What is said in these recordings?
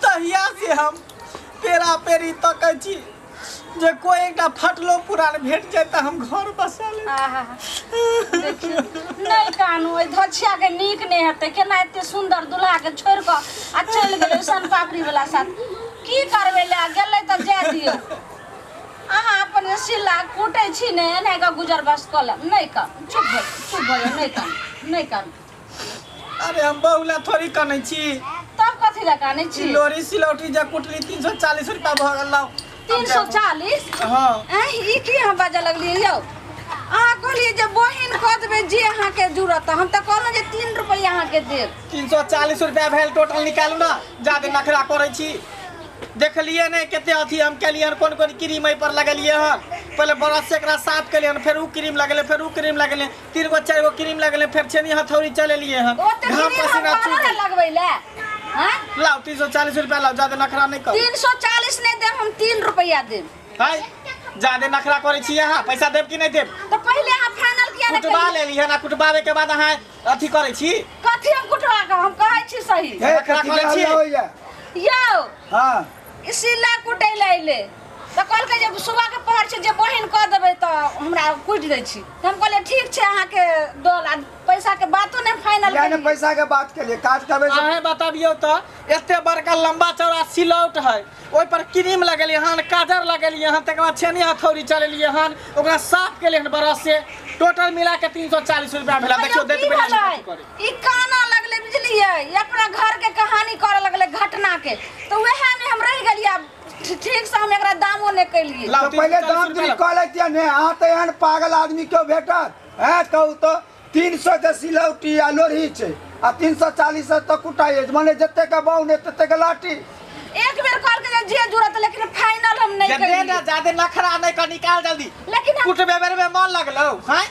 तहिया से हम पेरा पेरी तकै छी जे कोई एकटा फटलो पुरान भेट जाए तऽ हम घर बसा लेब आहा देखियौ नहि कानू ओहि धछिया के नीक नहि हेतै केना एते सुंदर दुल्हा के छोड़ कऽ आ चलि गेलै सन पापड़ी वाला साथ की करबै लए गेलै तऽ जाय दियौ अहाँ अपन जे सिल्ला कूटै छी ने एना कऽ गुजर बस कऽ लेब नहि कर चुप भऽ चुप भऽ जाउ, नहि कर नहि कर अरे हम बहू ला थोड़ी कनै छी तब कथी लए कानै ई छी लोरी सिलौटी जे कुटली तीन सौ चालीस रुपया भऽ गेल लाउ। तीन सौ चालीस हाँ एह, ई की अहाँ बाजऽ लगलियै यौ अहाँ कहलियै जे बहिन कऽ देबै जे अहाँके जरूरत हम तऽ कहलहुँ जे तीन रुपैआ अहाँके देब तीन सौ चालीस रुपया भेल टोटल निकालू ना जादे नखरा करै छी देखलिए ने कते अथी हम केलिए हन कोन कोन क्रीम एहि पर लगेलिए हन पहिले ब्रश से एकरा साफ केलिए हन फेर ऊ क्रीम लगेलिए फेर ऊ क्रीम लगेलिए तीन गो चारि गो क्रीम लगेले फेर छेनी हथौड़ी चलेलिए हन ओते घाम दिन पसीना हम चूह बाहर लगबै ले हैं लाओ तीन सौ चालीस रुपया लाओ ज्यादा नखरा नहीं करो 340 नहीं देब हम 3 रुपया देब हाय ज्यादा नखरा करे छी अहाँ पैसा देब कि नहीं देब तो पहले अहाँ फाइनल किया ने कुटबा करिए लेली हन आ कुटबावे के बाद अहाँ अथी करे छी कथी हम कुटवा के हम कहै छी सही नखरा करे छी यौ हाँ ई सिला कुटै लए अयलै तऽ कहलकै जे सुबहके पहर छै जे बहिन कऽ देबै तऽ हमरा कुटि दै छी तऽ हम कहलियै ठीक छै अहाँके दल आ पैसाके बातो नहि फाइनल यानी केलियै पैसा के बात के लिए काज करबे से अहें बताबियौ तऽ एते बड़का लंबा चौड़ा सिलौट है ओहि पर क्रीम लगेलियै हन काजर लगेलियै हन तकर बाद छेनी हथौड़ी चलेलियै हन ओकरा साफ केलियै हन ब्रश से टोटल मिला के तीन सौ चालीस रुपया भेला देखियौ देख की भेलै? ई काना लगले बुझलिए ई अपना घर के कहानी करे लगले घटना के तो वह में हम रह गलिया ठीक से हम एकरा दामो ने कैलिए लाओ, तो तीन पहले सौ चालीस दाम रुपया गिरी लाओ। कह लेतिया ने हाँ तो एहन पागल आदमी क्यों भेटत है कहू तो तीन सौ के सिलौटी आ लोरही छै आ तीन सौ चालीस तो कुटाइए मने जते के बाउन तते के लाठी एक बेर कॉल के जे जुड़त लेकिन फाइनल हम नहीं जब दे ना, कैलिए जादे नखरा नहीं कर निकाल जल्दी लेकिन हम कुटबे बेर में मन लगलो हैं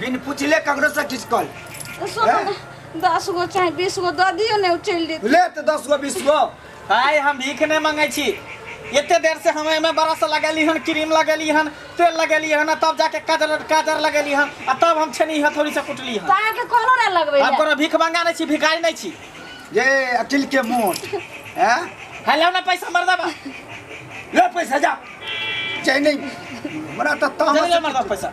बिन पूछले ककरो से किस कल सोना ना, दस गो चाहे बीस गो दऽ दियौ ने ओ चलि जेतै ले तो दस गो बीस गो आय हम भीख नहीं मांगे छी एते देर से हम एमे बरस लगेली हन क्रीम लगेली हन तेल लगेली हन आ तब जाके काजर काजर लगेली हन आ तब हम छेनी हथौड़ी से कुटली हन तार के कोनो ना लगबै हम कोनो भीख मांगा नहीं छी भिखारी नहीं छी ये अकिल के मोट हैं हेलो ना पैसा मर देबा ले पैसा जा चाहे नहीं हमरा तो चल तामस ले मर दो पैसा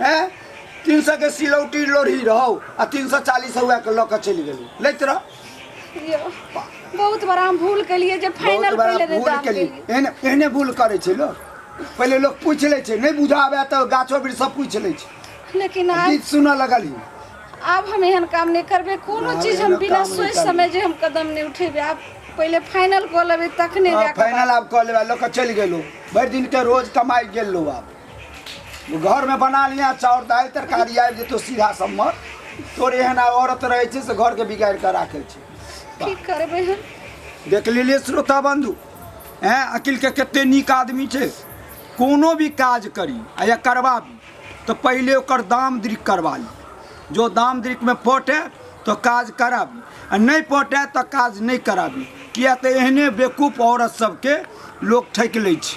हैं तीन सौ के सिलौटी लोढ़ी रहो आ तीन सौ चालीस हुआ के लऽ के चलि गेलू लैत रह यो, बहुत बड़ा हम भूल केलिए जे बहुत फाइनल बड़ा पहिले दे भूल दाम केली केलिए एहने एहने भूल करै छै लोक पहिले लोक पूछि लै छै नहि बुझा आबे तऽ गाछो वृक्ष सब पूछि लै छै लेकिन आब गीत सुनऽ लगली आब हम एहन काम नहीं करबे कोनो आब चीज हम एहन बिना काम नहीं सोच करबे। समझ हम कदम नहीं उठेबे आब पहिले फाइनल कऽ लेबे तखने जाके फाइनल आब कऽ लेबा लऽ के चलि गेलू भरि दिन के रोज कमाइ गेल लोग आब घर में बना लिया चाउर दाल तरकारी आबि जेतो सीधा सम्मत तोर एहन आ औरत रहे छै से घर के बिगाड़ के राखे छै की करबै हम देख लेलिए श्रोता बंधु हैं अकिल के कते नीक आदमी छै कोनो भी काज करी आ या करबाबी तो पहिले ओकर दाम दृक करवा ली जो दाम दृक में पटे तो काज कराबी आ नहीं पटे तो काज नहीं कराबी किया तो एहने बेकूफ औरत सबके लोग ठकि लै छै